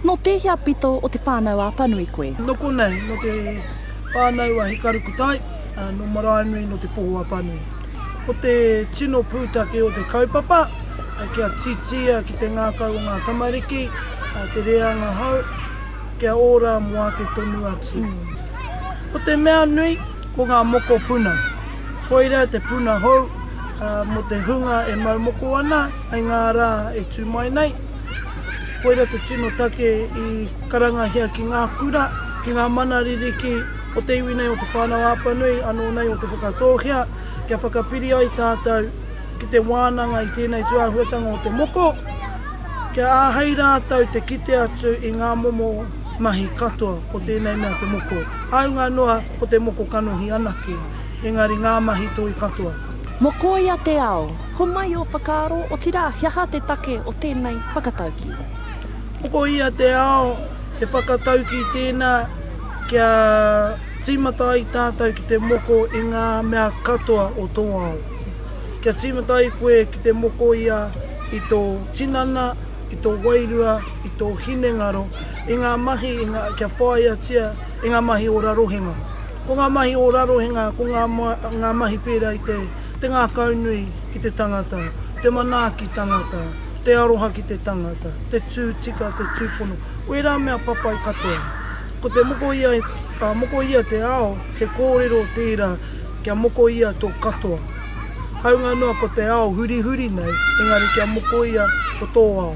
Nō tēhea pito o te whānau a Apanui koe? Nō konei, nō te whānau a Hikarukutai, ā, nō Maraenui, nō Te Poho-a-Panui. Ko te tino pūtake o te kaupapa, kia titia ki te ngākau o ngā tamariki, te rēanga hou, kia ora mō ake tonu atu. Ko te mea nui, ko ngā mokopuna. Koirā te puna hou mō te hunga e mau moko ana. Hei ngā rā e tū mai nei, koira te tino take i karangahia ki ngā kura, ki ngā mana ririki o te iwi nei, o Te Whānau-a-Apanui, anō nei o Te Whakatōhea, kia whakapiri ai tātou ki te wānanga i tēnei tūāhuatanga o te moko, kia āhei rātou te kite atu i ngā momo mahi katoa o tēnei mea te moko, hāunga noa ko te moko kanohi anake, engari ngā mahi toi katoa. Mokoia te ao! Homai ō whakaaro, otirā, he aha te take o tēnei whakataukī? Pokohia te ao he whakataukī tēnā kia tīmata ai tātou ki te moko i ngā mea katoa o tō ao. Kia tīmata ai koe ki te mokoia i tō tinana, i tō wairua, i tō hinengaro, i ngā mahi kia whāiatia i ngā mahi ora rohenga. Ko ngā mahi ora rohenga, ko ngā mahi pērā i te. Te ngākaunui ki te tangata, te manaaki tangata, te aroha ki te tangata, te tū tika, te tūpono, wērā mea papai katoa. Ko te moko ia, ka moko ia te ao, he kōrero tērā kia moko ia tō katoa. Haunga noa ko te ao hurihuri nei, engari kia moko ia ko tō ao.